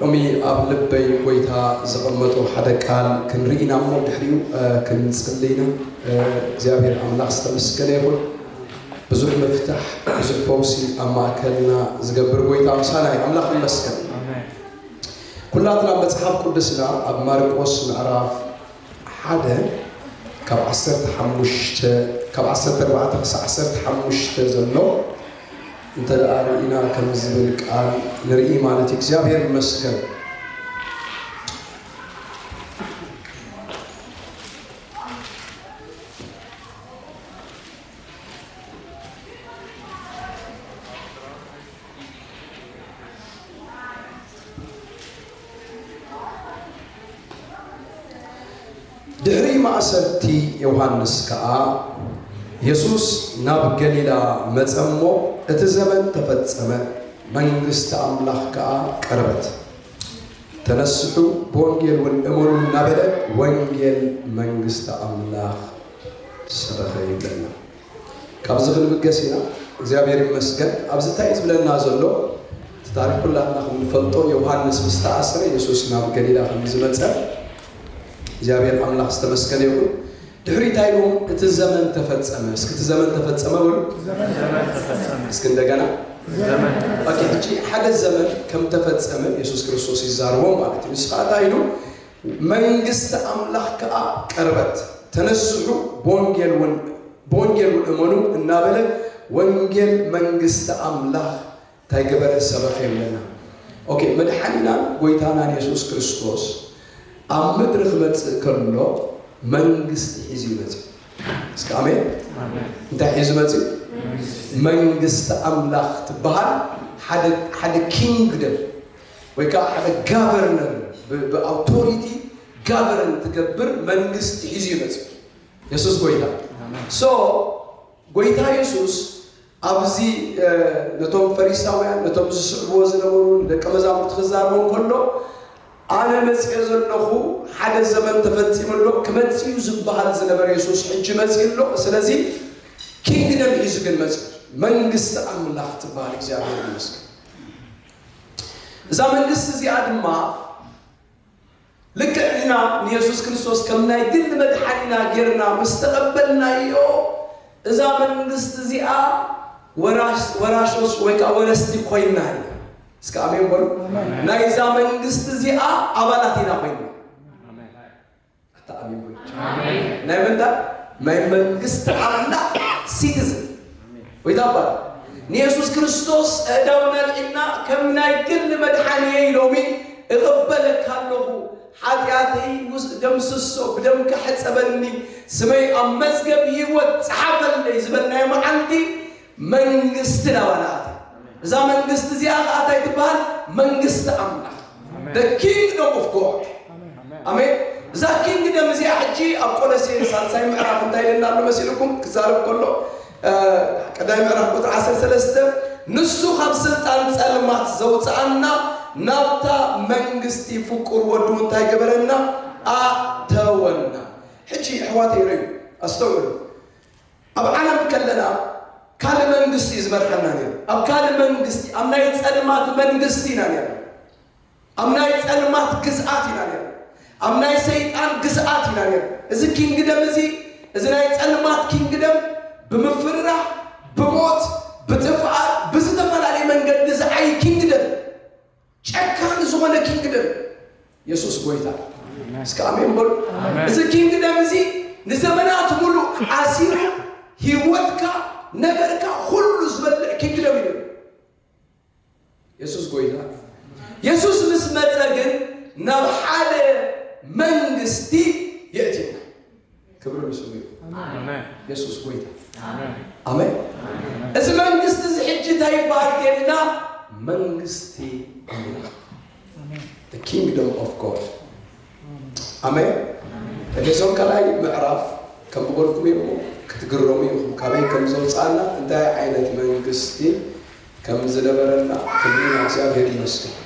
ሎሚ ኣብ ልበይ ጎይታ ዘቐመጦ ሓደ ቃል ክንርኢ ኢና እሞ ድሕሪኡ ክንጽሊ ኢና። እግዚኣብሔር ኣምላኽ ዝተመስገነ ይኹን። ብዙሕ ምፍታሕ ብዙሕ ፈውሲ ኣብ ማእከልና ዝገብር ጎይታ ምሳና እዩ። ኣምላኽ ይመስገን። ኩላትና መጽሓፍ ቅዱስና ኣብ ማርቆስ ምዕራፍ ሓደ ካብ ዓሰርተ ሓሙሽተ ካብ ዓሰርተ ኣርባዕተ ክሳዕ ዓሰርተ ሓሙሽተ ዘሎ እንተ ደኣ ርኢና ከም ዝብል ቃል ንርኢ ማለት እዩ። እግዚኣብሔር ይመስገን። ድሕሪ ማእሰርቲ ዮሃንስ ከኣ የሱስ ናብ ገሊላ መጸ እሞ፣ እቲ ዘመን ተፈጸመ፣ መንግስቲ ኣምላኽ ከኣ ቀረበት። ተነስሑ፣ ብወንጌል እውን እመኑ እናበለ ወንጌል መንግስቲ ኣምላኽ ሰበኸ ይብለና። ካብዚ ክንብገስ ኢና እግዚኣብሔር ይመስገን ኣብዚ እንታይ እዩ ዝብለና ዘሎ እቲ ታሪክ ኩላትና ከም ንፈልጦ ዮውሃንስ ምስ ተኣስረ የሱስ ናብ ገሊላ ከም ዝመጸ እግዚኣብሔር ኣምላክ ዝተመስገነ ይኹን ድሕሪ እንታይ ኢሎም እቲ ዘመን ተፈጸመ እስኪ እቲ ዘመን ተፈጸመ በሉ እስኪ እንደገና ኦኬ ሕጂ ሓደ ዘመን ከም ተፈጸመ የሱስ ክርስቶስ ይዛረቦም ማለት እዩ ንስኻ እንታይ ኢሉ መንግስቲ ኣምላኽ ከኣ ቀርበት፣ ተነስሑ ብወንጌልውን እመኑ እናበለ ወንጌል መንግስቲ ኣምላኽ እንታይ ገበረ ሰበኸ ይብለና። ኦኬ መድሓኒናን ጎይታናን የሱስ ክርስቶስ ኣብ ምድሪ ክመጽእ ከሎ መንግስቲ ሒዙ እዩ መጽኡ። እስከ ኣሜን። እንታይ ሒዙ መጽኡ? መንግስቲ ኣምላኽ ትበሃል ሓደ ኪንግደም ወይ ከኣ ሓደ ጋቨርነር ብኣውቶሪቲ ጋቨርን ትገብር መንግስቲ ሒዙ እዩ መጺኡ የሱስ ጎይታ ሶ ጎይታ የሱስ ኣብዚ ነቶም ፈሪሳውያን ነቶም ዝስዕብዎ ዝነበሩ ንደቀ መዛሙርቲ ክዛረቦም ከሎ ኣነ መጽኤ ዘለኹ ሓደ ዘመን ተፈጺሙ ኣሎ ክመጽእ እዩ ዝበሃል ዝነበረ የሱስ ሕጂ መጽእ ኣሎ ስለዚ ኪንግደም ሒዙ ግን መጽእ መንግስቲ ኣምላኽ ትበሃል እግዚኣብሔር ይመስገን እዛ መንግስቲ እዚኣ ድማ ልክዕ ንሕና ንየሱስ ክርስቶስ ከም ናይ ግል መድሓኒና ጌርና ምስ ተቐበልናዮ እዛ መንግስቲ እዚኣ ወራሾስ ወይ ከዓ ወረስቲ ኮይና ኢና። እስከ ኣሜን በሉ። ናይዛ መንግስቲ እዚኣ ኣባላት ኢና ኮይና ኣታኣሚን ብሉ ናይ መንታ ናይ መንግስቲ ኣምላኽ ሲቲዝን ወይ ታባ ንየሱስ ክርስቶስ እዳው ነልዒና ከም ናይ ግል መድሓንየ ኢሎሚ እቕበለካ ኣለኹ ሓጢኣተይ ውስ ደምስሶ ብደምካ ሕፀበኒ ስመይ ኣብ መዝገብ ህይወት ፀሓፈልለይ ዝበልናዮ መዓልቲ መንግስቲ ናባና ኣትያ እዛ መንግስቲ እዚኣ ከዓ እንታይ ትበሃል መንግስቲ ኣምላኽ the kingdom of god ኣሜን እዛ ኪንግደም እዚኣ ሕጂ ኣብ ቆሎሴን ሳልሳይ ምዕራፍ እንታይ ኢለና ኣሎ መሲልኩም ክዛረብ ከሎ እ፣ ቀዳማይ ምዕራፍ ቁጥሪ 13 ንሱ ካብ ስልጣን ጸልማት ዘውፅኣና ናብታ መንግስቲ ፍቁር ወዱ እንታይ ገበረና ኣተወና ሕጂ ኣሕዋተይ ረዩ ኣስተውዕሉ ኣብ ዓለም ከለና ካልእ መንግስቲ እዩ ዝመርሓና ነይሩ። ኣብ ካልእ መንግስቲ፣ ኣብ ናይ ጸልማት መንግስቲ ኢና ነይርና። ኣብ ናይ ጸልማት ግዝኣት ኢና ነይርና። ኣብ ናይ ሰይጣን ግዝኣት ኢና ነይርና። እዚ ኪንግደም እዚ እዚ ናይ ጸልማት ኪንግደም ብምፍርራህ፣ ብሞት፣ ብጥፍኣት፣ ብዝተፈላለየ መንገዲ ዝዓይ ኪንግደም ጨካን ዝኾነ ኪንግደም የሱስ ጎይታ እስከ ኣሜን በሉ። እዚ ኪንግደም እዚ ንዘመናት ሙሉ ሓሲሩ ህይወትካ ነገርካ ሁሉ ዝበልዕ ኪንግደም እዩ። የሱስ ጎይታ የሱስ ምስ መፀ ግን ናብ ሓደ መንግስቲ የእትየና። ክብሪ ንስሙ ይኹን። ኣሜን የሱስ ጎይታ ኣሜን ኣሜን። እዚ መንግስቲ እዚ ሕጂ እንታይ ይበሃል ከይልና መንግስቲ ኣምላኽ the kingdom of God ኣሜን። ኤፌሶን ካልኣይ ምዕራፍ ከም ዝበልኩም እሞ ክትግረሙ ኢኹም ካበይ ከም ዘውፅኣና እንታይ ዓይነት መንግስቲ ከም ዝነበረና ክብሪ ንእግዚኣብሔር ይመስገን።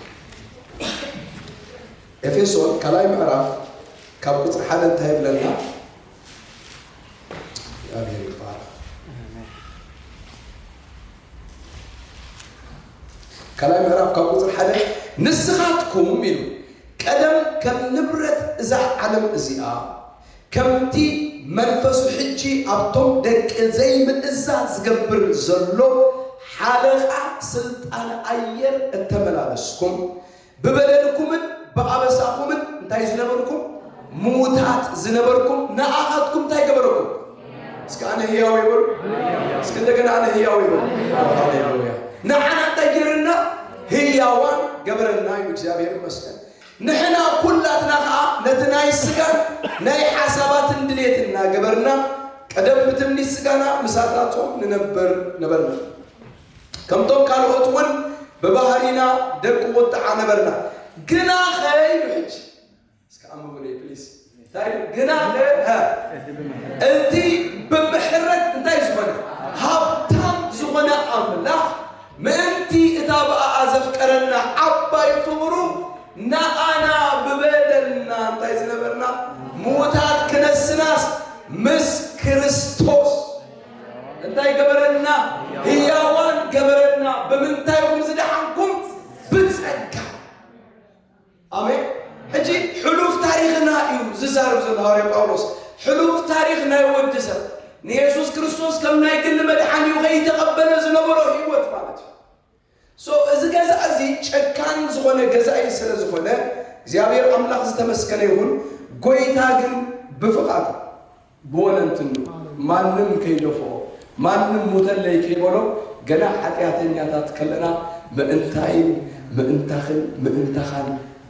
ኤፌሶን ካልኣይ ምዕራፍ ካብ ቁፅሪ ሓደ እንታይ ይብለና? እግዚኣብሔር ይባረክ። ካልኣይ ምዕራፍ ካብ ቁፅሪ ሓደ ንስኻትኩም ኢሉ ቀደም ከም ንብረት እዛ ዓለም እዚኣ ከምቲ መንፈሱ ሕጂ ኣብቶም ደቂ ዘይምእዛዝ ዝገብር ዘሎ ሓለቓ ስልጣን ኣየር እተመላለስኩም ብበደልኩምን ብኣበሳኹምን እንታይ ዝነበርኩም ምዉታት ዝነበርኩም ንኣኻትኩም እንታይ ገበረኩም? እስከ ኣነ ህያው ይበሉ። እስከ እንደገና ኣነ ህያው ይበሉ። ሃሌሉያ። ንዓና እንታይ ገይርና? ህያዋን ገበረና እዩ። እግዚኣብሔር ይመስገን። ንሕና ኩላትና ከዓ ነቲ ናይ ስጋን ናይ ሓሳባትን ድሌት እናገበርና ቀደም ብትምኒት ስጋና ምሳታቶም ንነበር ነበርና ከምቶም ካልኦት እውን ብባህሪና ደቂ ቁጥዓ ነበርና። ግናኸ ኢሉ ሕጂ እስከ ኣንብቡለይ ፕሊስ እንታይ ኢሉ? ግናኸ ሀ፣ እቲ ብምሕረት እንታይ ዝኾነ ሃብታም ዝኾነ ኣምላኽ ምእንቲ እታ ብኣኣ ዘፍቀረና ዓባይ ፍቕሩ ንኣና ብበደልና እንታይ ዝነበርና ምዉታት ክነስናስ ምስ ክርስቶስ እንታይ ገበረልና? ህያዋን ገበረና። ብምንታይ ኢኹም ዝደሓንኩም? ብጸጋ። ኣሜን። ሕጂ ሕሉፍ ታሪኽና እዩ ዝዛረብ ዘሎ ሃዋርያ ጳውሎስ። ሕሉፍ ታሪኽ ናይ ወዲ ሰብ ንየሱስ ክርስቶስ ከም ናይ ግሊ መድሓኒኡ ከይተቐበለ ዝነበሮ ህይወት ማለት እዩ። So እዚ ገዛኢ እዚ ጨካን ዝኾነ ገዛኢ ስለ ዝኾነ እግዚኣብሔር ኣምላኽ ዝተመስገነ ይኹን ጎይታ ግን ብፍቃዱ ብወለንትኑ ማንም ከይደፍኦ ማንም ሙተለይ ከይበሎ ገና ሓጥያተኛታት ከለና ምእንታይን ምእንታኽን ምእንታኻን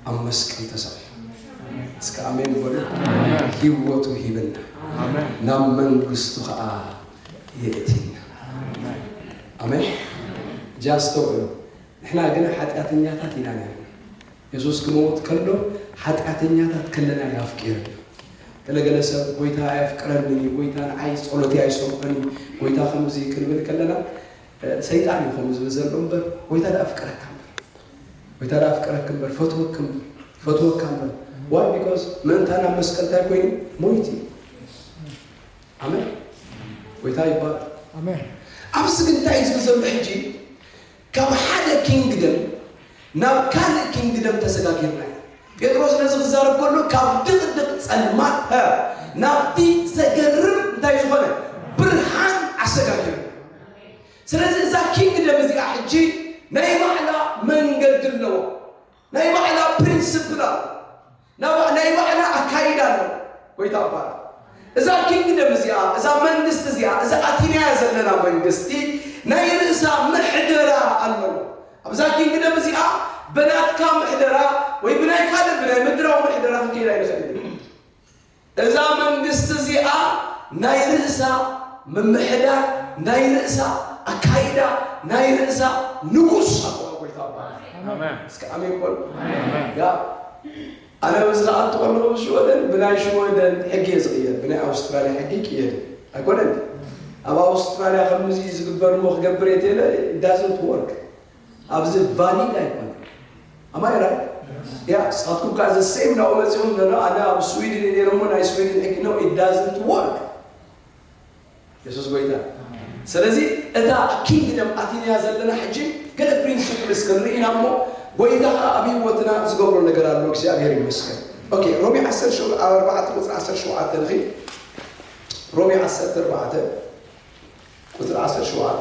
ኣብ መስቀል ተሰቂሉ እስከ ኣሜን በሉ ሂወቱ ሂብና ናብ መንግስቱ ከኣ የእትየና። ኣሜን። ሕጂ ኣስተውዕሉ፣ ንሕና ግና ሓጢኣተኛታት ኢና ነይርና። የሱስ ክመውት ከሎ ሓጢኣተኛታት ከለና እዩ ኣፍቂርና። ገለ ገለ ሰብ ጎይታ ኣየፍቅረንን እዩ፣ ጎይታ ንዓይ ጸሎተይ ኣይሰምዖን እዩ፣ ጎይታ ከምዚ እዩ ክንብል ከለና ሰይጣን እዩ ከምኡ ዝብል ዘሎ እምበር ጎይታ ደኣፍቅረካ እምበር ጎይታ ደኣፍቅረክ እምበር ፈትወክ እምበር ፈትወካ እምበር ዋይ ቢኮዝ ምእንታና ኣብ መስቀል እንታይ ኮይኑ ሞይት እዩ ኣሜን ጎይታ ይባረክ። ኣብዚ ግን እንታይ እዩ ዝብል ዘሎ ሕጂ ካብ ሓደ ኪንግደም ናብ ካልእ ኪንግደም ተሰጋጊርና ኢና። ጴጥሮስ ነዚ ክዛረብ ከሎ ካብ ድቕድቕ ጸልማት ሀ ናብቲ ዘገርም እንታይ ዝኾነ ብርሃን ኣሰጋጊሩ። ስለዚ እዛ ኪንግደም እዚኣ ሕጂ ናይ ባዕላ መንገዲ ኣለዎ። ናይ ባዕላ ፕሪንስፕል ኣለዋ። ናይ ባዕላ ኣካይዳ ኣለዋ። ጎይታ ይባረክ። እዛ ኪንግደም እዚኣ እዛ መንግስቲ እዚኣ እዛ ኣቲናያ ዘለና መንግስቲ ናይ ርእሳ ምሕደራ ኣለዎ። ኣብዛ ኪንግደም እዚኣ በናትካ ምሕደራ ወይ ብናይ ካልእ ብናይ ምድራዊ ምሕደራ ክንከይድ ኣይንኽእልን። እዛ መንግስቲ እዚኣ ናይ ርእሳ ምምሕዳር፣ ናይ ርእሳ ኣካይዳ፣ ናይ ርእሳ ንጉስ ኣለዋ። ጎይታ ይባረክ። እስኪ ኣሜን በሉ። ያ ኣነ ምስ ዝኣቱ ከለኹ ምስ ሽወደን ብናይ ሽወደን ሕጊ እየ ዝቕየር፣ ብናይ ኣውስትራልያ ሕጊ ይቅየድ ኣይኮነን። ኣብ ኣውስትራልያ ከምዚ ዝግበር እሞ ክገብር እየ ተለ ዳዝንት ወርክ ኣብዚ ቫሊድ ኣይኮነን ኣማይ ራይት ያ ንስኻትኩም ከዓ ዘ ሴም ናብኡ መፂኹም ኖ ኖ ኣነ ኣብ ስዊድን እየ ነይረ እሞ ናይ ስዊድን ሕጊ ነው ኢት ዳዝንት ወርክ የሱስ ጎይታ ስለዚ እታ ኪንግደም ኣቲንያ ዘለና ሕጂ ገለ ፕሪንስፕልስ ክንርኢ ኢና እሞ ጎይታ ከዓ ኣብ ህይወትና ዝገብሮ ነገር ኣሎ እግዚኣብሔር ይመስገን ኦኬ ሮሜ 10 ሸው- ኣርባዕተ ቁፅሪ 17 ንኺ ሮሜ 14 ቁፅሪ 17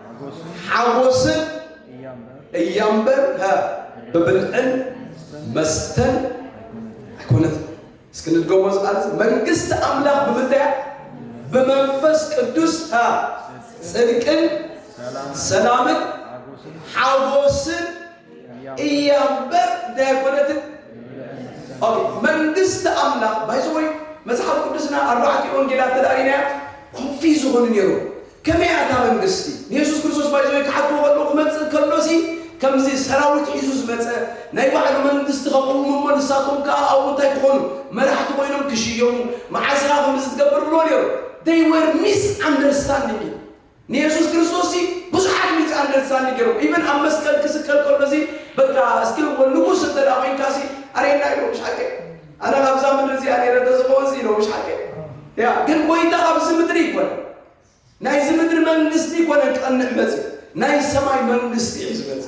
ሓጎስን እያምበር ብብልዕን መስተን ኣይኮነት። እስኪ ንድገሞ ዝቃል መንግስቲ ኣምላኽ ብምንታይ ብመንፈስ ቅዱስ ጽድቅን ሰላምን ሓጎስን እያምበር እንታይ ኣይኮነትን። መንግስቲ ኣምላኽ ባይዘወይ መጽሓፍ ቅዱስና ኣርባዕቲ ወንጌላት ተዳሪናያ ኮንፊዝ ዝኾኑ ነይሩ ከመይ እያ እታ መንግስቲ? ንየሱስ ክርስቶስ ባይ ዘ ዌይ ክሓትዎ ከለዉ ክመጽእ ከሎሲ ከምዚ ሰራዊት ሒዙ ዝመጸ ናይ ባዕሉ መንግስቲ ከቕውም እሞ ንሳቶም ከኣ ኣብኡ እንታይ ክኾኑ መራሕቲ ኮይኖም ክሽየሙ መዓስ ኢኻ ከምዚ ትገብር ይብልዎ ነይሮም they were misunderstanding እዩ ንየሱስ ክርስቶስ ሲ ብዙሓት ሚስ ኣንደርስታንዲንግ ገይሮም ኢቨን ኣብ መስቀል ክስቀል ከሎ ሲ በቃ እስኪ ንጉስ እንተ ኮይንካ ሲ ኣሬና ኢሎም ሻቀ ኣነ ካብዛ ምድሪ እዚኣ ነይረ እንተዝኸውንስ ኢሎ ምሻልከ ያ ግን ጎይታ ካብዚ ምድሪ ይኮነ ናይዚ ምድሪ መንግስቲ ይኮነ ቀንዕ መፅ ናይ ሰማይ መንግስቲ እዩ ዝመፅ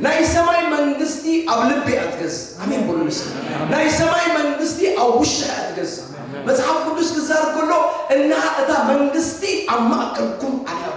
ናይ ሰማይ መንግስቲ ኣብ ልቢ እያ ትገዝ ኣሜን በሉ ንስ ናይ ሰማይ መንግስቲ ኣብ ውሻ እያ ትገዝ መጽሓፍ ቅዱስ ክዛር ከሎ እና እታ መንግስቲ ኣብ ማእከልኩም ኣለዋ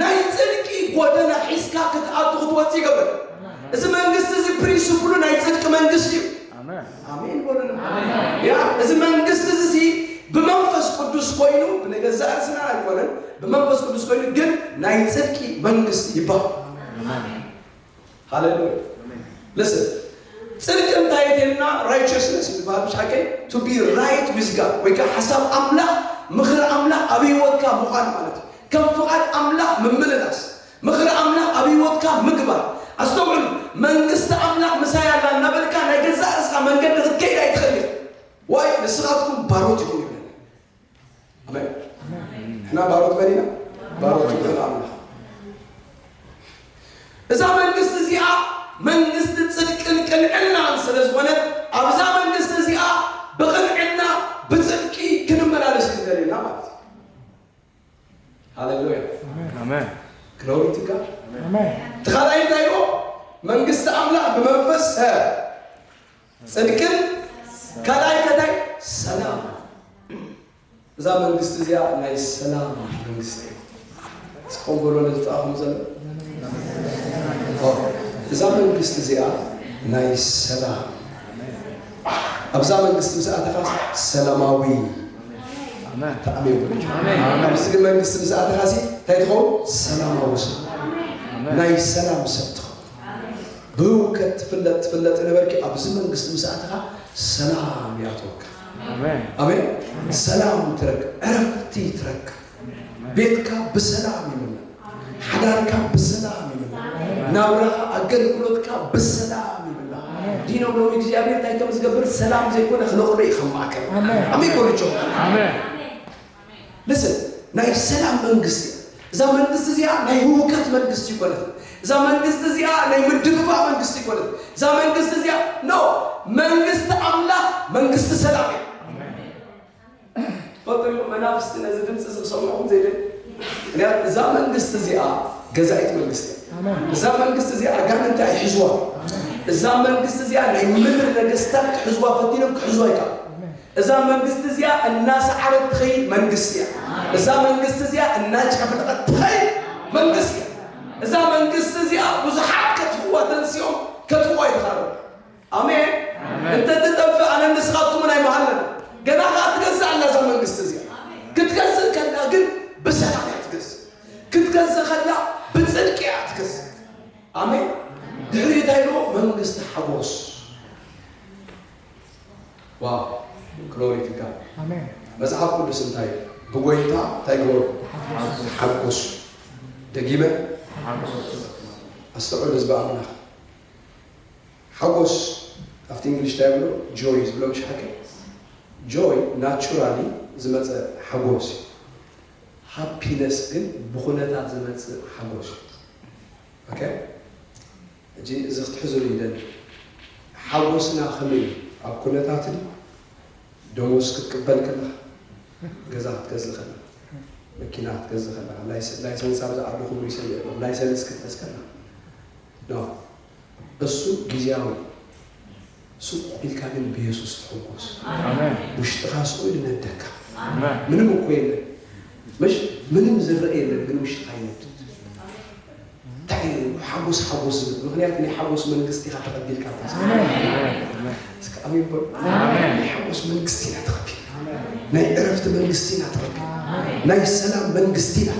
ናይ ጽድቂ ጎደና ሒዝካ ክትኣቱ ክትወጽእ ይገብር። እዚ መንግስቲ እዚ ፕሪንስፕሉ ናይ ጽድቂ መንግስቲ እዩ። ኣሜን በሉሉ። ያ እዚ መንግስቲ እዚ ብመንፈስ ቅዱስ ኮይኑ ብነገዛ ርእስና ኣይኮነን፣ ብመንፈስ ቅዱስ ኮይኑ ግን ናይ ጽድቂ መንግስቲ ይባሃል። ሃሌሉያ ልስን ጽድቂ እንታይ እዩ ተይልና ራይቸስነስ እዩ ዝበሃል ብሻ ከ ቱ ቢ ራይት ዊዝ ጋድ ወይ ከዓ ሓሳብ ኣምላኽ ምኽሪ ኣምላኽ ኣብ ህይወትካ ምዃን ማለት እዩ ከም ፍቓድ ኣምላኽ ምምልላስ ምኽሪ ኣምላኽ ኣብ ህይወትካ ምግባር ኣስተውዕሉ መንግስቲ ኣምላኽ ምሳይ ኣላ እናበልካ ናይ ገዛእ ርእስኻ መንገዲ ክትከይድ ኣይትኽእል ኢኻ ዋይ ንስኻትኩም ባሮት ኢኹም ይብለኒ ኣሜን። ንሕና ባሮት መን ኢና? ባሮት ልዑል ኣምላኽ። እዛ መንግስቲ እዚኣ መንግስቲ ጽድቅን ቅንዕናን ስለ ዝኾነት ኣብዛ መንግስቲ እዚኣ ብቕንዕና ብጽድቂ ክንመላለስ እዩ ዝደልየና ማለት እዩ። ሃሌሉያ ኣሜን ክነውሪ ትጋ ኣሜን እቲ ካልኣይ እንታይ ኢልዎ? መንግስቲ ኣምላኽ ብመንፈስ ሰ ጽድቅን ካልኣይ ከታይ ሰላም እዛ መንግስቲ እዚኣ ናይ ሰላም መንግስቲ እያ እስከም በሎ ነዝጣኹም ዘሎ እዛ መንግስቲ እዚኣ ናይ ሰላም ኣብዛ መንግስቲ ምስ ኣተኻስ ሰላማዊ ተኣሚ ይብለች ኣብዚ ግን መንግስቲ ምስ ኣተኻሲ እንታይ ትኸውን ሰላማዊ ሰብ ናይ ሰላም ሰብ ትኸውን ብህውከት ትፍለጥ ትፍለጥ የነበርኪ ኣብዚ መንግስቲ ምስ ኣተኻ ሰላም ይኣትወካ ኣሜን ሰላም ትረክብ ዕረፍቲ ትረክብ ቤትካ ብሰላም ይምላ ሓዳርካ ብሰላም ይምላ ናብራኻ ኣገልግሎትካ ብሰላም ይምላ ዲኖ ሎሚ እግዚኣብሔር እንታይ ከም ዝገብር ሰላም ዘይኮነ ክነቕሎ እዩ ከም ማእከል ኣሜን በሉ ጆ ኣሜን Listen ናይ ሰላም መንግስቲ እያ እዛ መንግስቲ እዚኣ ናይ ህውከት መንግስቲ ኣይኮነትን እዛ መንግስቲ እዚኣ ናይ ምድፍፋእ መንግስቲ ኣይኮነትን እዛ መንግስቲ እዚኣ ኖ መንግስቲ ኣምላኽ መንግስቲ ሰላም እያ ትፈልጡ ዲኹም መናፍስቲ ነዚ ድምፂ እዚ ክሰምዑኹም ዘይደል ምክንያቱ እዛ መንግስቲ እዚኣ ገዛኢት መንግስቲ እያ እዛ መንግስቲ እዚኣ ኣጋንንቲ ኣይሕዝዋ እዛ መንግስቲ እዚኣ ናይ ምድሪ ነገስታት ክሕዝዋ ፈቲኖም ክሕዝዋ ይከኣል እዛ መንግስቲ እዚኣ እናሰዓረት ትኸይድ መንግስቲ እያ። እዛ መንግስቲ እዚኣ እናጨፍለቐት ትኸይድ መንግስቲ እያ። እዛ መንግስቲ እዚኣ ብዙሓት ከጥፍዋ ተንሲኦም ከጥፍዋ ይተኻሉ። ኣሜን። እንተትጠፍእ ኣነ ንስኻትኩምን ኣይመሃለን። ገና ከዓ ትገዝእ ኣላ እዛ መንግስቲ እዚኣ። ክትገዝእ ከላ ግን ብሰላም እያ ትገዝእ። ክትገዝእ ከላ ብፅድቂ እያ ትገዝእ። ኣሜን። ድሕሪ እንታይ ኢልዎ? መንግስቲ ሓጎስ ዋው ግሎሪ ቱ ጋድ ኣሜን መጽሓፍ ቅዱስ እንታይ እዩ? ብጎይታ እንታይ ግበሩ ተሓጎሱ ደጊመ ኣስተውዕሉ ህዝቢ ኣምላኽ ሓጎስ ኣብቲ እንግሊሽ እንታይ ብሎ ጆይ ዝብሎ ምሽ ሓቂ ጆይ ናቹራሊ ዝመፀ ሓጎስ እዩ ሃፒነስ ግን ብኩነታት ዝመፅእ ሓጎስ እዩ ኦኬ ሕጂ እዚ ክትሕዙሉ ይደሊ ሓጎስና ከመይ እዩ ኣብ ኩነታት ድዩ ደሞዝ ክትቅበል ከለኻ ገዛ ክትገዝእ ከለኻ መኪና ክትገዝእ ከለኻ ላይሰንስ ኣብዚ ዓዲ ክቡር እዩ ሰሚዐ ኣለኹ ላይሰንስ ክትሕዝ ከለኻ ኖ እሱ ግዝያዊ እዩ። ስቁ ኢልካ ግን ብየሱስ ተሕጎስ ውሽጥካ ስቁ ኢሉ ነደካ ምንም እኮ የለን ምሽ ምንም ዝረእ የለን ግን ውሽጥካ ይነድድ እንታይ እዩ ሓጎስ ሓጎስ ዝብል ምክንያት ናይ ሓጎስ መንግስቲ ኢካ ተቀቢልካ እስከ ኣሜን በሉ ናይ ሓጎስ መንግስቲ ኢና ተቀቢል ናይ ዕረፍቲ መንግስቲ ኢና ተቀቢል ናይ ሰላም መንግስቲ ኢና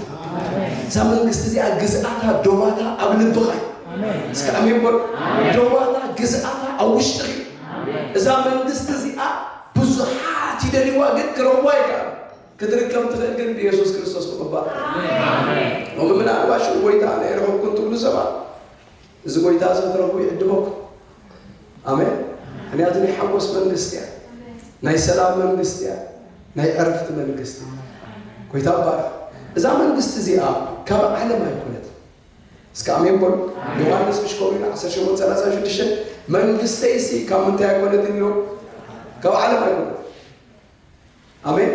እዛ መንግስቲ እዚኣ ግዝኣታ ዶባታ ኣብ ልብካ እዩ እስከ ኣሜን በሉ። ደዋታ ግዝኣታ ኣብ ውሽጥኺ እዛ መንግስቲ እዚኣ ብዙሓት ይደልይዋ ግን ክረኽቧ ይከኣሉ ክትርከብ ትኽእል ግን ብየሱስ ክርስቶስ ምቕባል ሎሚ ምናልባሽ ጎይታ ናይ ረኸብኩን ትብሉ ሰባት እዚ ጎይታ እዚ ትረኽቡ ይዕድመኩም ኣሜን ምክንያቱ ናይ ሓጎስ መንግስቲ እያ ናይ ሰላም መንግስቲ እያ ናይ ዕረፍቲ መንግስቲ ጎይታ ባርኽ እዛ መንግስቲ እዚኣ ካብ ዓለም ኣይኮነት እስከ ኣሜን በሉ። ዮሃንስ ምሽ ከምኡ ኢሉ ዓሰርተ ሸሞንተ ሰላሳን ሽዱሽተን መንግስተይሲ ካብ ምንታይ ኣይኮነትን ኢሎ ካብ ዓለም ኣይኮነት። ኣሜን።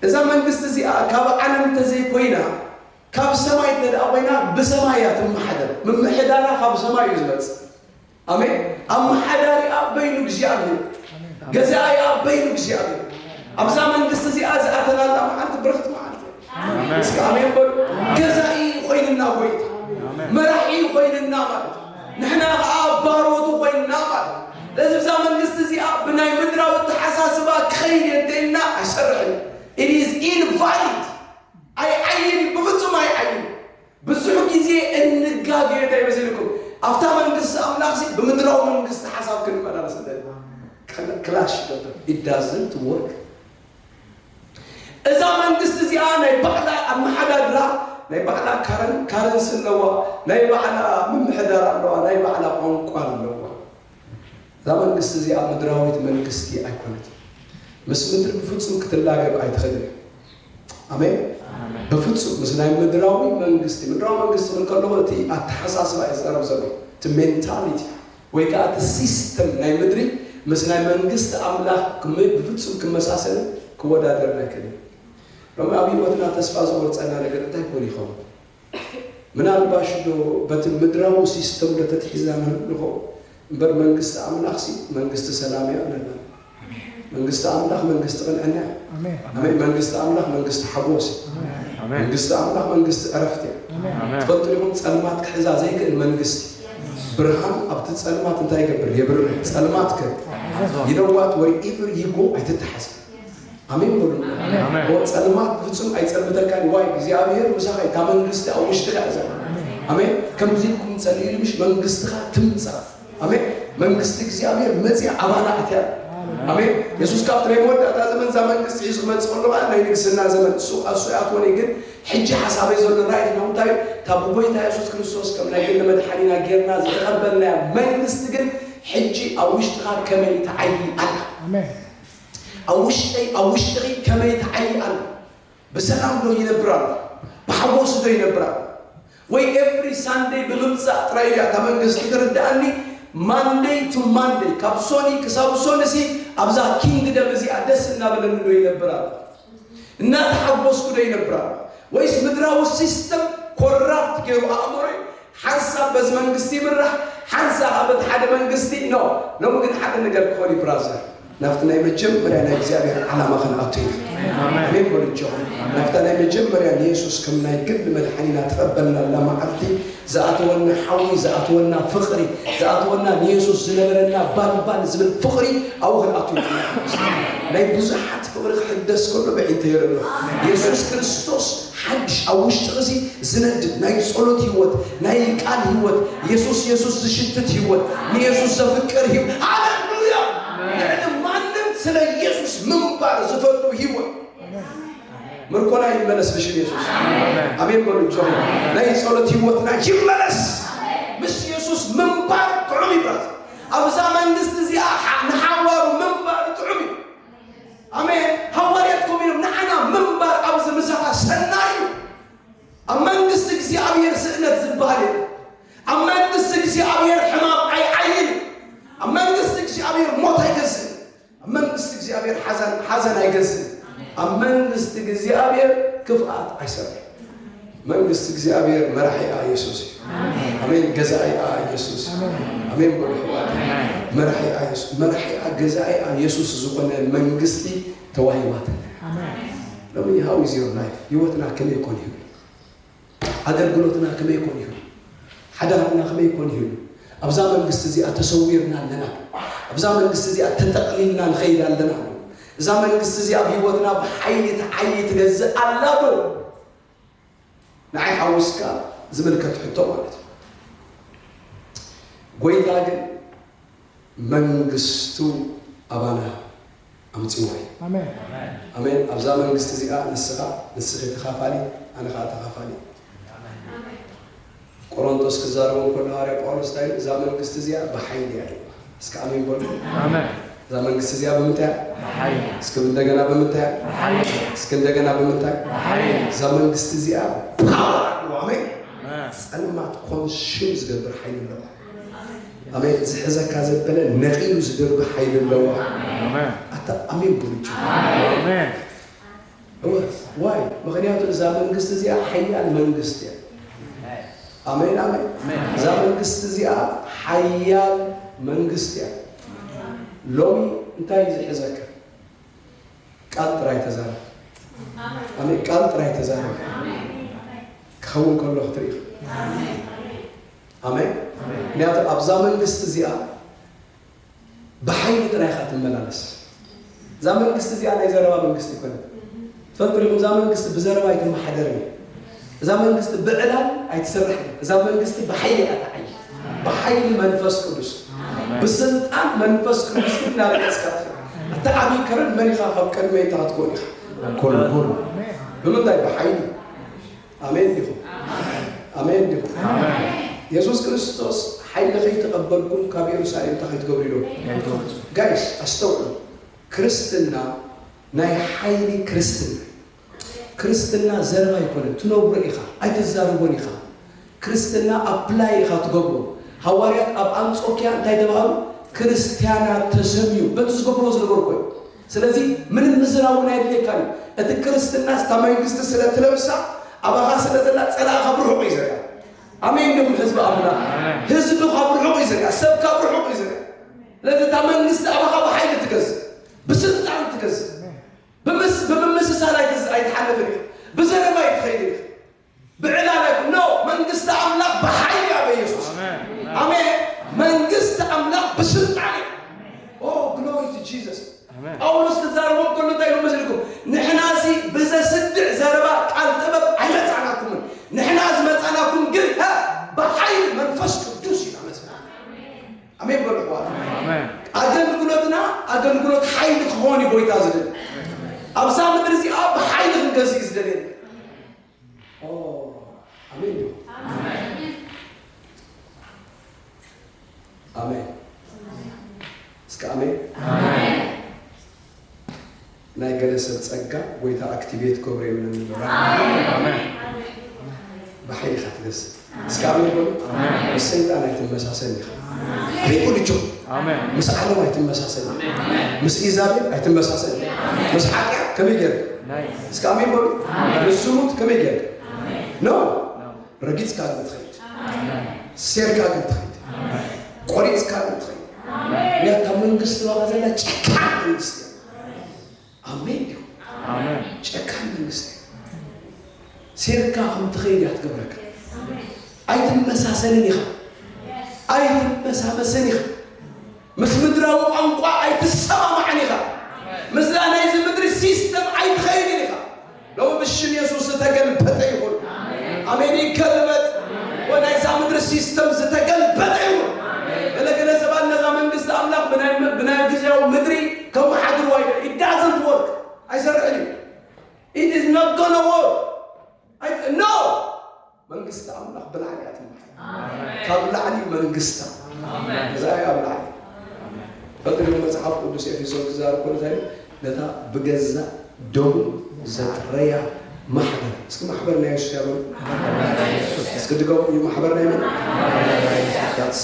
እዛ መንግስቲ እዚኣ ካብ ዓለም እንተዘይኮይና ካብ ሰማይ እንተደኣ ኮይና ብሰማይ እያ ትመሓደር። ምምሕዳራ ካብ ሰማይ እዩ ዝመፅእ። ኣሜን ኣመሓዳሪኣ በይኑ እግዚኣብሔር ገዛኢኣ በይኑ እግዚኣብሔር ኣብዛ መንግስቲ እዚኣ ዝኣተናላ መዓልቲ ብርኽቲ መዓልቲ እያ። እስኪ ኣሜን በሉ። ገዛኢ ኮይንና ጎይታ መራሒ ኮይንና ማለት እዩ። ንሕና ከዓ ባሮቱ ኮይንና ማለት እዩ። ስለዚ ብዛ መንግስቲ እዚኣ ብናይ ምድራዊ ተሓሳስባ ክኸይድ እየ እንተኢልና ኣይሰርሕን ኢዝ ኢንቫሊድ ኣይዓይን እዩ። ብፍጹም ኣይዓይን ብዙሕ ግዜ እንጋገ እንታይ መሲልኩም ኣብታ መንግስቲ ኣምላኽሲ ብምድራዊ መንግስቲ ሓሳብ ክንመላለስ እንተልና ቀል- ክላሽ ይገብር it doesn't work እዛ መንግስቲ እዚኣ ናይ ባዕላ ኣመሓዳድራ ናይ ባዕላ ካረን ካረንሲ ኣለዋ ናይ ባዕላ ምምሕዳር ኣለዋ ናይ ባዕላ ቋንቋ ኣለዋ እዛ መንግስቲ እዚኣ ምድራዊት መንግስቲ ኣይኮነትን። ምስ ምድሪ ብፍጹም ክትላገብ ኣይትኽእልን እያ። ኣሜን። በፍጹም ምስ ናይ ምድራዊ መንግስቲ ምድራዊ መንግስቲ ክብል ከለኹ እቲ ኣተሓሳስባ እዩ ዝቐርብ ዘሎ እቲ ሜንታሊቲ ወይ ከዓ እቲ ሲስተም ናይ ምድሪ ምስ ናይ መንግስቲ ኣምላኽ ክም- ብፍጹም ክመሳሰልን ክወዳደርን ኣይክእልን እዩ። ሎሚ ኣብ ህይወትና ተስፋ ዝቖርጸና ነገር እንታይ ክኾን ይኸውን? ምናልባሽዶ በቲ ምድራዊ ሲስተምዶ ተትሒዝና ንህሉ ንኸውን? እምበር መንግስቲ ኣምላኽሲ መንግስቲ ሰላምዮ ኣለና። መንግስቲ ኣምላኽ መንግስቲ ቅንዕና እያ። ኣሜን። መንግስቲ ኣምላኽ መንግስቲ ሓጎስ እዩ። መንግስቲ ኣምላኽ መንግስቲ ዕረፍቲ እያ። ትፈልጡ ኢኹም ጸልማት ክሕዛ ዘይክእል መንግስቲ ብርሃን ኣብቲ ጸልማት እንታይ ይገብር? የብርህ። ጸልማት ከ ይነዋት ወር ኢቨር ይጎ ኣይትተሓዝን። ኣሜን በሉ። እሞ ጸልማት ብፍጹም ኣይጸልምተካን እዩ። ዋይ እግዚኣብሔር ምሳኻ እዩ። እታ መንግስቲ ኣብ ውሽጥኻ እያ ዘላ። ኣሜን። ከምዚ ኢልኩም ጸልዩ ልምሽ መንግስትኻ ትምጻእ። ኣሜን። መንግስቲ እግዚኣብሔር መጽያ ኣባና ኣትያ ኣሜን። የሱስ ካብቲ ናይ መወዳእታ ዘመን እዛ መንግስቲ ሒዙ ክመጽእ ከሎ ከዓ ናይ ንግስና ዘመን እሱ እሱ ያትወን እዩ። ግን ሕጂ ሓሳበይ ዘሎ ራእይ ነው እንታይ እዩ? እታ ብጎይታ የሱስ ክርስቶስ ከም ናይ ሕሊ መድሓኒና ጌርና ዝተቐበልናያ መንግስቲ ግን ሕጂ ኣብ ውሽጥኻ ከመይ ትዓይ ኣላ? ኣሜን። ኣብ ውሽጠይ ኣብ ውሽጥኺ ከመይ ትዓዪ ኣላ? ብሰላም ዶ ይነብር ኣሎ? ብሓጎስ ዶ ይነብር ኣሎ? ወይ ኤቭሪ ሳንደይ ብምምጻእ ጥራይ ድያ እታ መንግስቲ ትርድኣኒ? ማንደይ ቱ ማንደይ ካብ ሶኒ ክሳብ ሶኒሲ ኣብዛ ኪንግደም እዚኣ ደስ እናበለኒ ዶ ይነብር ኣሎ? እናተሓጎስኩ ዶ ይነብራ ወይስ ምድራዊ ሲስተም ኮራፕት ገይሩ ኣእምሮይ ሓንሳብ በዚ መንግስቲ ይምራሕ ሓንሳ ኸኣ በቲ ሓደ መንግስቲ ኖ ሎሚ ግን ሓደ ነገር ክኾን እዩ ብራዘር ናብቲ ናይ መጀመርያ ናይ እግዚኣብሔር ዓላማ ክንኣቱ ኢና ኣሜን በሉ እጆኹም ናብታ ናይ መጀመርያ ንየሱስ ከም ናይ ግል መድሓኒና ተቐበልናላ መዓልቲ ዝኣተወና ሓዊ ዝኣተወና ፍቅሪ ዝኣተወና ንየሱስ ዝነበረና ባን ባን ዝብል ፍቅሪ ኣብኡ ክንኣቱ ኢና ንሓጉስ ናይ ብዙሓት ፍቅሪ ክሕደስ ከሎ በዒንተይ ይርኢ ኣሎ የሱስ ክርስቶስ ሓድሽ ኣብ ውሽጥኺ እዚ ዝነድድ ናይ ጸሎት ህይወት ናይ ቃል ህይወት የሱስ የሱስ ዝሽትት ህይወት ንየሱስ ዘፍቅር ህይወት ሃሌሉያ ልዕሊ ማንም ስለ የሱስ ምንባር ዝፈቱ ህይወት ምርኮና ይመለስ ብሽም የሱስ ኣሜን በሉ ጆ ናይ ጸሎት ህይወትና ይመለስ ምስ የሱስ ምንባር ጥዑም ይብራት ኣብዛ መንግስቲ እዚኣ ንሓዋሩ ምንባር ጥዑም እዩ ኣሜን ሃዋርያት ኮም ኢሎም ንዓና ምንባር ኣብዚ ምሳኻ ሰናይ እዩ ኣብ መንግስቲ እግዚኣብሔር ስእነት ዝበሃል እዩ ኣብ መንግስቲ እግዚኣብሔር ሕማም ኣይዓይን እዩ ኣብ መንግስቲ እግዚኣብሔር ሞት ኣይገዝእን ኣብ መንግስቲ እግዚኣብሔር ሓዘን ሓዘን ኣይገዝእን። ኣብ መንግስቲ እግዚኣብሔር ክፍኣት ኣይሰርሕን። መንግስቲ እግዚኣብሔር መራሒኣ ኢየሱስ እዩ። ኣሜን። ገዛኢኣ ኢየሱስ እዩ። ኣሜን በሉ ሕዋት። መራሒኣ ኢየሱስ መራሒኣ ገዛኢኣ ኢየሱስ ዝኾነ መንግስቲ ተዋሂባትና። ሎሚ ሃው ኢዝ ዮር ላይፍ ህይወትና ከመይ ኮን ይብል ኣገልግሎትና ከመይ ኮን ይሁን? ሓዳርና ከመይ ኮን ይሁን? ኣብዛ መንግስቲ እዚኣ ተሰዊርና ኣለና ዶ? ኣብዛ መንግስቲ እዚኣ ተጠቕሊልና ንኸይድ ኣለና ዶ? እዛ መንግስቲ እዚኣ ኣብ ህይወትና ብሓይሊ ትዓዪ ትገዝእ ኣላ ዶ? ንዓይ ሓዊስካ ዝምልከት ሕቶ ማለት እዩ። ጎይታ ግን መንግስቱ ኣባና ኣምጽዋይ። ኣሜን ኣብዛ መንግስቲ እዚኣ ንስኻ ንስኺ ተኻፋሊት ኣነ ከኣ ተኻፋሊ ቆሮንቶስ ክዛረቦም ከሎ ሃዋርያ ጳውሎስ እንታይ ኢሉ እዛ መንግስቲ እዚኣ ብሓይሊ እያ ኢሉ እስከ ኣሜን በሉ እዛ መንግስቲ እዚኣ ብምንታይ እያ እስከ እንደገና ብምንታይ እያ እስከ እንደገና ብምንታይ እዛ መንግስቲ እዚኣ ፓወር ኣለዋ ኣሜን ጸልማት ኮንሱም ዝገብር ሓይሊ ኣለዋ ኣሜን ዝሕዘካ ዘበለ ነቂሉ ዝድርቢ ሓይሊ ኣለዎ ኣታ ኣሜን ብሉጭ እወ ዋይ ምክንያቱ እዛ መንግስቲ እዚኣ ሓያል መንግስቲ እያ ኣሜን ኣሜን እዛ መንግስቲ እዚኣ ሓያል መንግስቲ እያ ሎሚ እንታይ እዩ ዝሕዘካ ቃል ጥራይ ተዛረብ ኣሜን ቃል ጥራይ ተዛረብ ክኸውን ከሎ ክትርኢ ኣሜን። ምክንያቱ ኣብዛ መንግስቲ እዚኣ ብሓይሊ ጥራይ ኢኻ ትመላለስ። እዛ መንግስቲ እዚኣ ናይ ዘረባ መንግስቲ ይኮነ ትፈልጡ ዲኹም? እዛ መንግስቲ ብዘረባ ኣይትመሓደር እዩ። እዛ መንግስቲ ብዕላል ኣይትስራሕ እዩ። እዛ መንግስቲ ብሓይሊ እያ ትዓይ፣ ብሓይሊ መንፈስ ቅዱስ፣ ብስልጣን መንፈስ ቅዱስ ግን ናብዕስካ እቲ ዓብይ ከረን መን ኢኻ ካብ ቅድመ ይታ ክትኮን ኢኻ ኮልኩል ብምንታይ ብሓይሊ ኣሜን ዲኹም? ኣሜን ዲኹም? የሱስ ክርስቶስ ሓይሊ ከይተቐበልኩም ካብ የሩሳሌም እንታይ ከይትገብሩ ኢሎሞ? ጋይስ ኣስተውዕሉ፣ ክርስትና ናይ ሓይሊ ክርስትና እዩ። ክርስትና ዘረባ ኣይኮነን፣ ትነብሮ ኢኻ፣ ኣይትዛረቦን ኢኻ። ክርስትና ኣፕላይ ኢኻ ትገብሮ። ሃዋርያት ኣብ ኣንጾኪያ እንታይ ተባህሉ? ክርስትያናት ተሰምዩ፣ በቲ ዝገብርዎ ዝነበሩ ኮይኑ ስለዚ ምንም ምዝራብ እውን ኣየድልየካን እዩ። እቲ ክርስትናስ እታ መንግስቲ ስለ እትለብሳ ኣባኻ ስለ ዘላ ጸላኢ ካብ ርሑቕ እዩ ዝርኣ። ኣሜን ድኹም ህዝቢ ኣምላኽ ህዝቢ ካብ ርሑቕ እዩ ዝርኣ፣ ሰብ ካብ ርሑቕ እዩ ዝርኣ። ስለዚ እታ መንግስቲ ኣባኻ ብሓይሊ ትገዝእ፣ ብስልጣን ትገዝእ። ብምስ- ብምምስሳል ኣይትዝ- ኣይትሓልፍን ኢኻ፣ ብዘረባ ኣይትኸይድን ኢኻ። ብዕላለ ግን ን መንግስቲ ኣምላኽ ብሓይሊ እያ በየሱስ ኣሜን መንግስቲ ኣምላኽ ብስልጣን እያ ኦ ግሎሪ ቱ ጂሰስ ጳውሎስ ክዛረቦም ከሎ እንታይ ኢሉ መስልኩም ንሕናዚ ብዘስድዕ ዘረባ ቃል ጥበብ ኣይመጻእናኩምን ንሕና ዝመጻእናኩም ግን ሀ፣ ብሓይሊ መንፈስ ቅዱስ ኢና መጽና ኣሜን በሉ ኣሕዋት ኣገልግሎትና ኣገልግሎት ሓይሊ ክኾን እዩ ጎይታ ዝደል ኣብዛ ምድሪ እዚኣ ብሓይሊ ክንገዝእ እዩ ዝደልየና ኣሜን ዶ ኣሜን እስከ ኣሜን ናይ ገለ ሰብ ጸጋ ጎይታ ኣክቲቬት ገብረ የምነን ባሕሪ ኢኻ ትገስብ እስኪ ኣሜን በሉ። ምስ ሰይጣን ኣይትመሳሰል ኢኻ። ኣይቁልቾ ምስ ዓለም ኣይትመሳሰል ምስ ኢዛቤል ኣይትመሳሰል ምስ ሓጢኣት ከመይ ገይር እስኪ ኣሜን በሉ። ምስ ዝሙት ከመይ ገይር ነው ረጊፅካ ግን ትኸይድ ሴርካ ግን ትኸይድ ቆሪፅካ ግን ትኸይድ እያ ካብ መንግስቲ ዋጋ ዘላ ጨካን መንግስቲ እያ። ኣሜን ድዩ? ጨካን መንግስቲ ሴርካ ከም ትኸይድ እያ ትገብረካ። ኣይትመሳሰልን ኢኻ፣ ኣይትመሳመስን ኢኻ፣ ምስ ምድራዊ ቋንቋ ኣይትሰማማዕን ኢኻ፣ ምስላ ናይዚ ምድሪ ሲስተም ኣይትኸይድን ኢኻ። ሎሚ ብሽም የሱስ ዝተገልበጠ ይኹን። ኣሜን። ይገልበጥ ወናይዛ ምድሪ ሲስተም ዝተገልበጠ ይኹን። ገለገለሰባት ነዛ መንግስቲ ኣምላኽ ብናይ ግዜያዊ ምድሪ ከመሓድርዋ ይደ ኢዳዘንት ወርክ ኣይሰርሕን እዩ ኢት ኢዝ ኖት ጎነ ወርክ ኖ መንግስቲ ኣምላኽ ብላዕሊ እያ ትምሓር ካብ ላዕሊ መንግስታ እዛ እያ ኣብ ላዕሊ ፈልቲ ግን መጽሓፍ ቅዱስ ኤፌሶን ክዛረብ ኮሎ እንታይ ነታ ብገዛ ደሙ ዘጥረያ ማሕበር እስኪ ማሕበር ናይ የሱስ ያበሉ እስኪ ድገሙ ማሕበር ናይ መን ዳትስ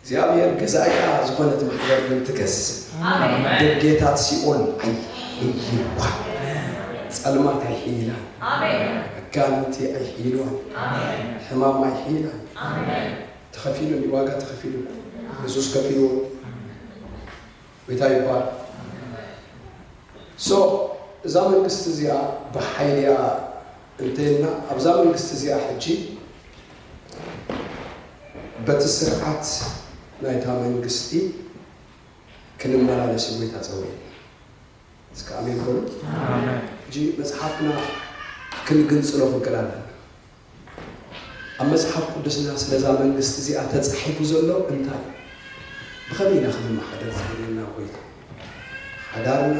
እግዚኣብሔር ገዛኢኣ ዝኾነት ማሕበር ግን ትገዝእ ደጌታት ሲኦል ኣይሕይልዋን ጸልማት ኣይሕይላን ኣጋንንቲ ኣይሕይልዋን ሕማም ኣይሕይላን ተኸፊሉ እንዲ ዋጋ ተኸፊሉ የሱስ ከፊልዎ ጎይታ ይባርክ so እዛ መንግስቲ እዚኣ ብሓይሊ እያ እንተይልና ኣብዛ መንግስቲ እዚኣ ሕጂ በቲ ስርዓት ናይታ መንግስቲ ክንመላለስ ጎይታ ጸውዒና እስከ ኣሜን በሉ ሕጂ መጽሓፍና ክንግንጽሎ ክንክእል ኣለና ኣብ መጽሓፍ ቅዱስና ስለዛ መንግስቲ እዚኣ ተጻሒፉ ዘሎ እንታይ እዩ? ብኸመይ ኢና ክንመሓደር ዝደልየና ጐይታ? ሓዳርና፣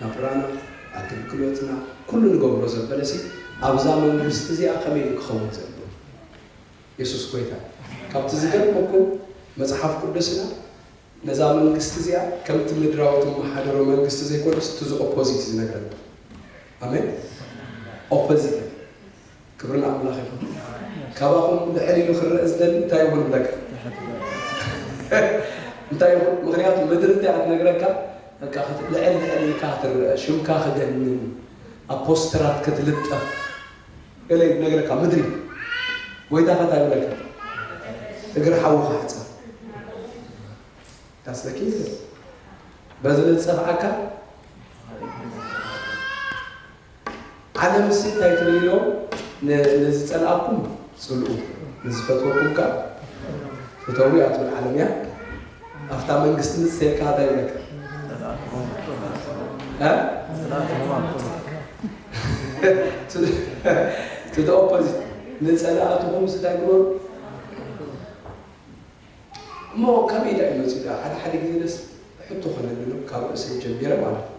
ናብራና፣ ኣገልግሎትና፣ ኩሉ ንገብሮ ዘበለሲ ኣብዛ መንግስቲ እዚኣ ከመይ እዩ ክኸውን ዘለዎ? የሱስ ጐይታ እዩ። ካብቲ ዝገርመኩም መጽሓፍ ቅዱስና ነዛ መንግስቲ እዚኣ ከምቲ ምድራዊ ትመሓደሮ መንግስቲ ዘይኮነስ እቲ ዝኦፖዚት እዩ ዝነግረና። ኣሜን። ኦፖዚት ክብሪ ንኣምላኽ ይኹን። ካባኹም ልዕል ኢሉ ክረእ ዝደሊ እንታይ ይኹን እብለካ እንታይ ይኹን ምክንያቱ ምድሪ እንታይ ክትነግረካ በቃ ክት- ልዕል ልዕል ኢልካ ክትረአ ሽምካ ክገንን ኣብ ፖስተራት ክትልጠፍ ገለ እዩ ዝነግረካ ምድሪ ጎይታ ከ እንታይ ይብለካ እግሪ ሓዊ ክሕፀብ ካስለኪ በዚ ንፀፍዓካ ዓለምሲ እንታይ ትርኢ ኢሎም ንዝጸልኣኩም ጽልኡ ንዝፈትወኩም ከኣ ፍተዉ እያ ትብል ዓለም እያ ኣብታ መንግስቲ ምጽተየልካ ኣታይ ይብለካ እቲ ኦፖዚት ንጸላእትኹም ስታይ ግበሩ እሞ ከመይ ዳእ መፅኡ ሓደ ሓደ ግዜ ደስ ሕቶ ክነብሎም ካብ ርእሰይ ጀሚረ ማለት እዩ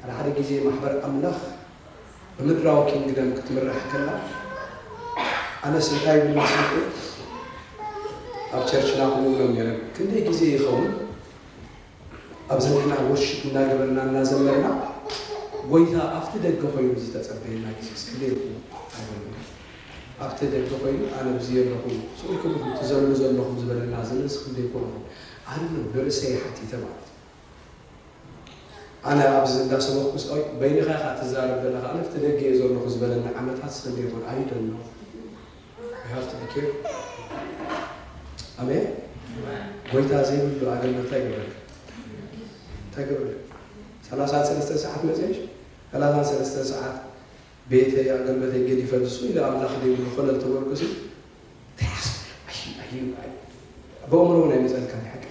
ሓደ ሓደ ግዜ ማሕበር ኣምላኽ ብምድራዊ ኪንግደም ክትምራሕ ከላ ኣነስ እንታይ ይብል መስልኩም ኣብ ቸርችና ከምኡ እብሎም ነይረ ክንደይ ግዜ ይኸውን ኣብዚ ንሕና ወርሺፕ እናገበርና እናዘመርና ጎይታ ኣብቲ ደገ ኮይኑ ዝተጸበየና ግዜ እስክንደይ ይኸውን ኣይበሉ ኣብቲ ደገ ኮይኑ ኣነ ብዚ ኣለኹ ስኡልኩም ኢኹም ትዘሉ ዘለኹም ዝበለና ዘመን ስክንደይ ኮን ይኹን ኣነ ንርእሰይ ሓቲተ ማለት ኣነ ኣብዚ እንዳሰበኽኩ ስቆይ በይንኻ ኢኻ ትዛረብ ዘለኻ ኣነ ኣብቲ ደገ እየ ዘለኹ ዝበለኒ ዓመታት ሰንደይ ይኾን ኣይ ዶንት ኖው ዩ ሃቭ ቱ ቢ ኬርፉል ኣሜን ጎይታ ዘይብሉ ኣገልግሎት እንታይ ይገብረልካ እንታይ ይገብረልካ ሰላሳን ሰለስተን ሰዓት መፅሽ ሰላሳን ሰለስተን ሰዓት ቤተይ ኣገልግሎተይ ገዲፈ ንሱ ኢለ ኣምላኽ ዘይብሉ ኮነ ዝተበልኩ ሲ እንታይ ሓስብ ኣዩ ኣዩ በእምሮ እውን ኣይመፀልካን ሓቂ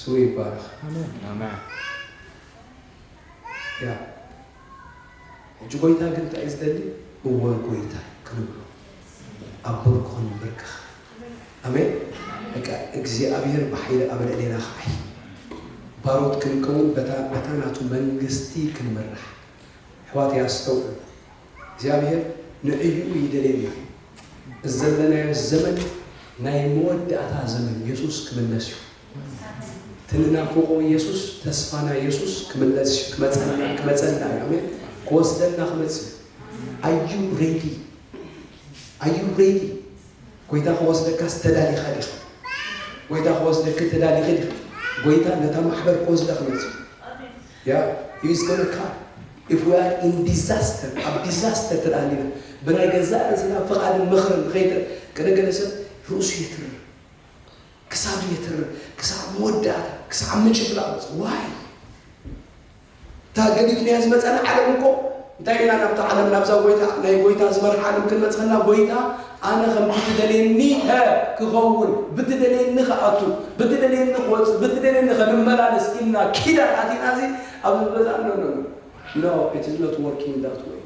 ስሙ ይባረኽ ኣሜን ኣሜን። ያ ሕጂ ጎይታ ግን እንታይ እዩ ዝደሊ እወ ጎይታይ ክንብሎ ኣብ ብርኩ ክንብርከኽ ኣሜን በቃ እግዚኣብሄር ብሓይሊ ኣብ ልዕሌና ክዓይ ባሮት ክንከውን በታ በታ ናቱ መንግስቲ ክንምራሕ ኣሕዋተይ ኣስተውዕሉ እግዚኣብሔር ንዕይኡ ይደልየና እዩ እዚ ዘለናዮ ዘመን ናይ መወዳእታ ዘመን የሱስ ክምለስ እዩ እቲ ንናፍቆ የሱስ ተስፋና የሱስ ክምለስ እዩ ክመጸና ክመጸና እዩ ኣሜን ክወስደና ክመጽእ እዩ ኣዩ ሬዲ ኣዩ ሬዲ ጎይታ ክወስደካስ ተዳሊኻ ዲኻ ጎይታ ክወስደኪ ተዳሊኺ ዲኺ ጎይታ ነታ ማሕበር ክወስዳ ክመጽእ እዩ Yeah, he is gonna come. If we are in disaster, ኣብ disaster ተዳሃሊና ብናይ ገዛእ ርእስና ፍቓድን ምኽርን ንኸይተ ገለ ገለ ሰብ ርእሱ የትርር ክሳዱ የትርር ክሳብ መወዳእታ ክሳብ ምጭፍላቕ በጽ ዋይ እታ ገዲፍናያ ዝመጸና ዓለም እኮ እንታይ ኢና ናብታ ዓለም ናብዛ ጎይታ ናይ ጎይታ ዝበርሓ ዓለም ክንበጽሐና ጎይታ ኣነ ከምቲ ትደልየኒ ኸ ክኸውን፣ ብትደልየኒ ክኣቱ፣ ብትደልየኒ ክወጽእ፣ ብትደልየኒ ከ ንመላለስ ኢልና ኪዳን ኣቲና ሲ ኣብዚ በዛ ኖ ኖ ኖ ኖ ኢት ኢዝ ኖት ዎርኪንግ ዳት ዌይ።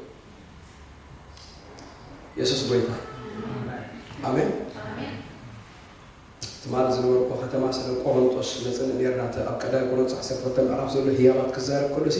የሱስ ጎይታ እዩ። ኣሜን። ትማል ዝነበርኩ ከተማ ስለ ቆሮንጦስ ነጽንዕ ኔርና እቲ ኣብ ቀዳይ ቆሮንጦስ ዓሰርተ ክልተ ምዕራፍ ዘሎ ህያባት ክዛረብ ከሎ ሲ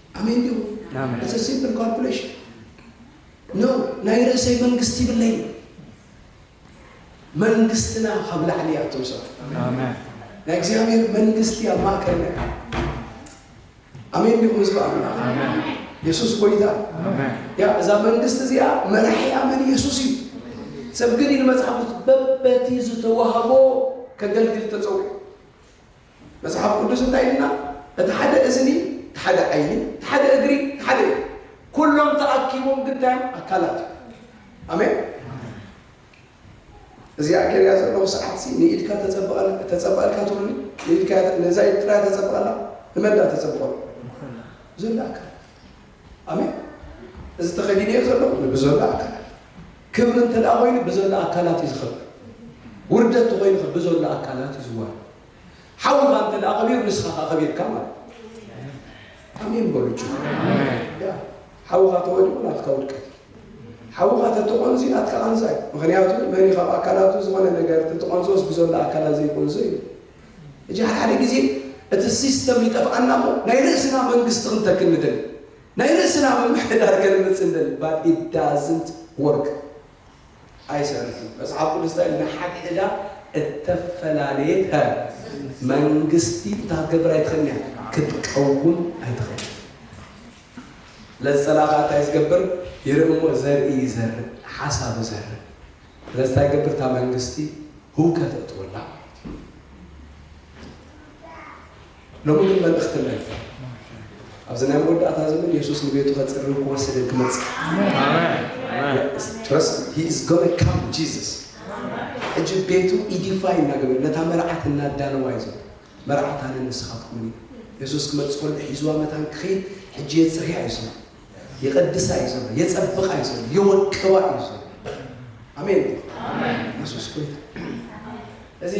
ኣሜን ድዩ ኣሜን። ኢትስ ሲምፕል ካልኩሌሽን ነው ናይ ርእሰይ መንግስቲ ይብለይ መንግስትና ካብ ላዕሊ እያ እቶም ሰባት ኣሜን። ናይ እግዚኣብሔር መንግስቲ ኣብ ማእከልና እያ ኣሜን ድዩ ህዝቢ ኣምላኽ ኣሜን። የሱስ ጎይታ ኣሜን። ያ እዛ መንግስቲ እዚኣ መራሒኣ መን የሱስ እዩ ሰብ ግን ኢሉ መጽሓፍ ቅዱስ በበቲ ዝተዋህቦ ከገልግል ተጸውዑ መጽሓፍ ቅዱስ እንታይ ኢሉና እቲ ሓደ እዝኒ እቲ ሓደ ዓይኒ እቲ ሓደ እግሪ እቲ ሓደ እዩ ኩሎም ተኣኪቦም ግን እንታይ እዮም ኣካላት እዩ ኣሜን እዚ ኣኬርያ ዘለዎ ሰዓት ሲ ንኢድካ ተጸብቐልካ ትብሉኒ ንኢድካ ነዛ ኢድ ጥራይ ተጸብቐላ ንመንዳ ተጸብቐሉ ዘሎ ኣካል ኣሜን። እዚ ተኸዲነዮ ዘለኹ ንብዘሎ ኣካላት ክብሪ እንተ ደኣ ኮይኑ ብዘሎ ኣካላት እዩ ዝኸብር። ውርደት ተኮይኑ ከ ብዘሎ ኣካላት እዩ ዝዋር። ሓውኻ እንተ ደኣ ከቢሩ ንስኻ ከ ከቢርካ ማለት ኣሜን በሉ ጭ ያ ሓውኻ ተወዲቑ ናትካ ውድቀት እዩ። ሓውኻ ተተቆንዙ ናትካ ቃንዛ እዩ። ምክንያቱ መን ካብ ኣካላቱ ዝኾነ ነገር ተተቆንዞስ ብዘሎ ኣካላት ዘይቆንዞ እዩ። እጃ ሓደ ግዜ እቲ ሲስተም ይጠፍኣና እሞ ናይ ርእስና መንግስቲ ክንተክል ንደሊ። ናይ ርእስና ምምሕዳር ከነምጽእ ንደሊ but it doesn't work ኣይሰርሕን እዩ። መጽሓፍ ቅዱስ እንታይ ኢሉ ንሓድሕዳ እተፈላለየት ከ መንግስቲ ታገብር ኣይትኽእልን እያ ክትቀውም ኣይትኽእልን። ለጸላፋ እንታይ ዝገብር ይርኢ እሞ ዘርኢ ይዘርእ ሓሳብ ይዘርእ ስለዚ ታይ ይገብር እታ መንግስቲ ሁውከት የእትወላ ማለት እዩ ሎሚ ግን መልእኽቲ መልክዕ ኣብዚ ናይ መወዳእታ ዘመን የሱስ ንቤቱ ከፅርን ክወስድን ክመፅእ ትረስ ሂ ኢዝ ጎነ ካም ጂዘስ ሕጂ ቤቱ ኢዲፋይ እናገበረ ነታ መርዓት እናዳለዋ እዩ ዘሎ መርዓት ኣነ ንስኻትኩምን እዩ የሱስ ክመፅእ ከሎ ሒዝዋ መታን ክኸይድ ሕጂ የፅርያ እዩ ስማ የቐድሳ እዩ ዘሎ፣ የጸብቓ እዩ ዘሎ፣ የወቅባ እዩ ዘሎ። ኣሜን ኢየሱስ ጎይታ። እዚ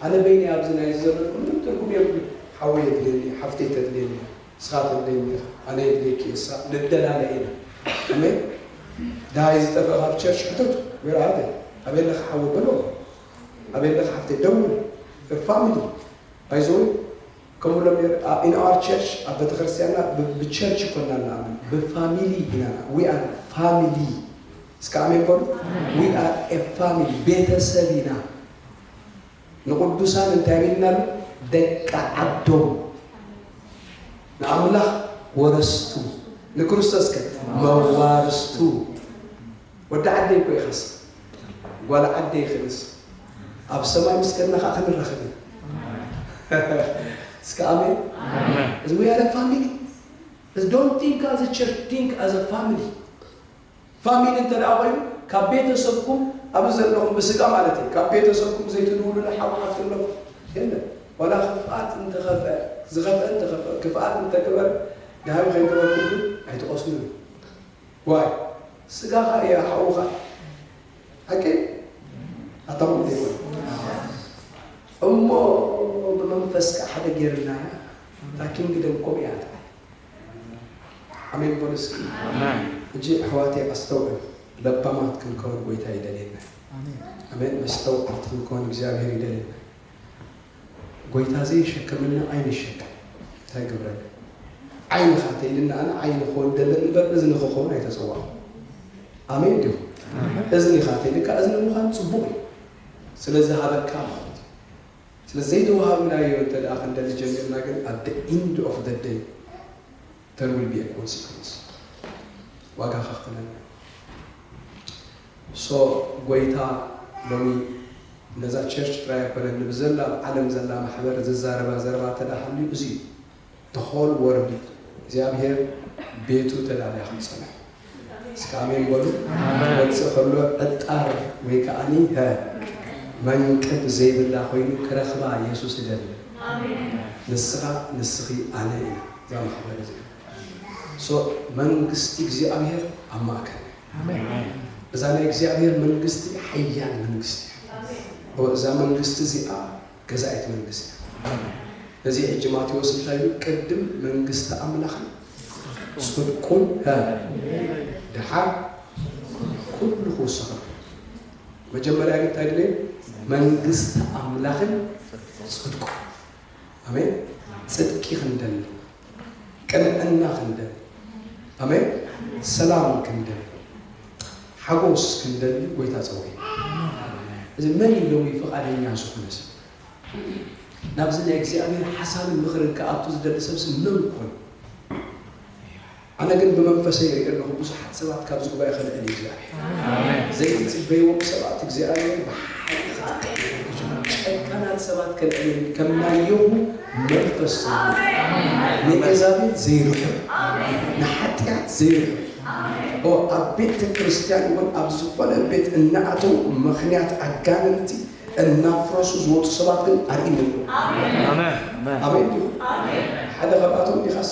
ኣነ በይነይ ኣብዚ ናይ ዘሎ ምንም ትርጉም የብሉ። ሓወይ የድልየኒ እዩ፣ ሓፍተይ ተድልየኒ እያ፣ ንስኻ ተድልየኒ ኢኻ፣ ኣነ የድልየኪ እየ፣ እሳ ንደላለ ኢና። ኣሜን ድሃይ ዝጠፍእ ካብ ቸርች ሕተቱ ወይራ ኣበ ኣበይ ኣለካ ሓወ በሎ ኣበይ ኣለካ ሓፍተይ ደውል ፋሚሊ ባይዘወይ ከምኡ ኢሎም ነይሩ in our church ኣብ ቤተክርስትያንና ብቸርች እኮና ንኣምን ብፋሚሊ ኢና ንኣ we are family እስከ ኣሜን በሉ we are a family ቤተሰብ ኢና ንቅዱሳን እንታይ ቢልና ኣሎ ደቂ ዓዶም ንኣምላኽ ወረስቱ ንክርስቶስ ከ መዋርስቱ ወዲ ዓደይ እኮ ኢኻስ ጓል ዓደይ ክንስ ኣብ ሰማይ ምስ ከድና ከኣ ክንራኸብ ኢና እስከ ኣሜን እዚ we are a family እዚ don't think as a church think as a family ፋሚሊ እንተ ደኣ ኮይኑ ካብ ቤተሰብኩም ኣብዚ ዘለኹም ብስጋ ማለት እዩ ካብ ቤተሰብኩም ዘይትድውሉሉ ሓው ሓፍቲ ኣለኹ የለን ዋላ ክፍኣት እንተኸፍአ ዝኸፍአ እንተኸፍአ ክፍኣት እንተገበር ድሃዩ ከይገበርኩም ግን ኣይትቐስኑን ዋይ ስጋኻ እያ ሓውኻ ሓቂ ኣታ ወዲ ይኾን እሞ ብመንፈስካ ሓደ ጌርና እታ ኪንግደም ኮም እያ ትብል ኣሜን በሉ እስኪ እጂ ኣሕዋተይ ኣስተውዕል ለባማት ክንከውን ጎይታ ይደልየና ኣሜን መስተውዓልቲ ክንከውን እግዚኣብሔር ይደልየና ጎይታ ዘይሸከመና ኣይንሸከም እንታይ ገብረልና ዓይንኻ ተይልና ኣነ ዓይኒ ክኮን ደለኒ እምበር እዝኒ ክኮን ኣይተጸዋዕኩ ኣሜን ዲኩም እዝኒኻ ተይልካ እዝኒ ምዃን ጽቡቅ እዩ ስለ ዝሃበካ ማለት እዩ ስለ ዘይተዋሃብናዮ እንተ ክንደሊ ጀሚርና ግን at the end of the day there will be a consequence ዋጋ ከኽፍለን እዩ so ጎይታ ሎሚ ነዛ ቸርች ጥራይ ኣይኮነን ንብዘላ ኣብ ዓለም ዘላ ማሕበር ዝዛረባ ዘረባ እንተድኣ ሃልዩ እዚ እዩ the whole world እዩ እግዚኣብሄር ቤቱ ተዳልያ ከምፀንሑ እስከ ኣሜን በሉ ክወፅእ ከሎ ዕጣር ወይ ከዓኒ ሀ መንቅብ ዘይብላ ኮይኑ ክረኽባ የሱስ እደሊ ንስኻ ንስኺ ኣነ ኢና እዛ ማሕበር እዚኣ ሶ መንግስቲ እግዚኣብሔር ኣብ ማእከል እዛ ናይ እግዚኣብሔር መንግስቲ ሓያል መንግስቲ እያ እዛ መንግስቲ እዚኣ ገዛኢት መንግስቲ ኣላ። ስለዚ ሕጂ ማቴዎስ እንታይ ኢሉ ቅድም መንግስቲ ኣምላኽን ጽድቁን ሀ ደሓር ኩሉ ክውሰኸልኩም። መጀመርያ ግን እንታይ ድለዩ መንግስቲ ኣምላኽን ጽድቁን። ኣሜን ጽድቂ ክንደሊ ቅንዕና ክንደሊ፣ ኣሜን፣ ሰላም ክንደሊ፣ ሓጎስ ክንደሊ ጎይታ ጸዊዑና። እዚ መን እዩ ሎሚ ፍቓደኛ ዝኾነ ሰብ? ናብዚ ናይ እግዚኣብሔር ሓሳብን ምኽርን ክኣቱ ዝደሊ ሰብሲ መን ኮን? ኣነ ግን ብመንፈሰይ ይርኢ ኣለኹ ብዙሓት ሰባት ካብዚ ጉባኤ ከልዕል እዩ እግዚኣብሔር ዘይትጽበይዎም ሰባት እግዚኣብሔር ብሓይሊ ክጥቀም ብዙሓት ጨካናት ሰባት ከልዕል እዩ ከም ናይ የሁ መንፈስ ዘለዎ ንኤዛቤል ዘይርሕቕ ንሓጢኣት ዘይርሕቕ ኦ ኣብ ቤተ ክርስቲያን እውን ኣብ ዝኾነ ቤት እናኣተው ምኽንያት ኣጋንንቲ እናፍረሱ ዝወፁ ሰባት ግን ኣርኢኒ ኣሎ ኣሜን ዲኹም ሓደ ካብኣቶም ዲኻሳ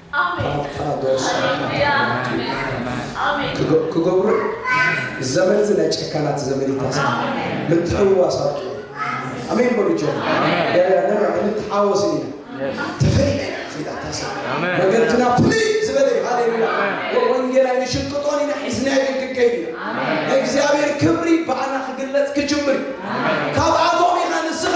ኣታ ደርሳታት ኣሕዋተይ ክገብሩ እየ ዘመን እዚ ናይ ጨካናት ዘመን ይታሰ ምትሕውዋስ ኣብቅዑ ኣሜን በሉ ጆ ያያነና እንተሓወስን ኢና ተፈይ ዘይታታሰ መገድና ፍልይ ዝበለ እዩ ሃሌሉያ ወንጌላይ ንሽቅጦን ኢና ሒዝናዮ ክንከይድ ኢና ናይ እግዚኣብሔር ክብሪ ብኣና ክግለጽ ክጅምር እዩ ካብኣቶም ኢና ንስኻ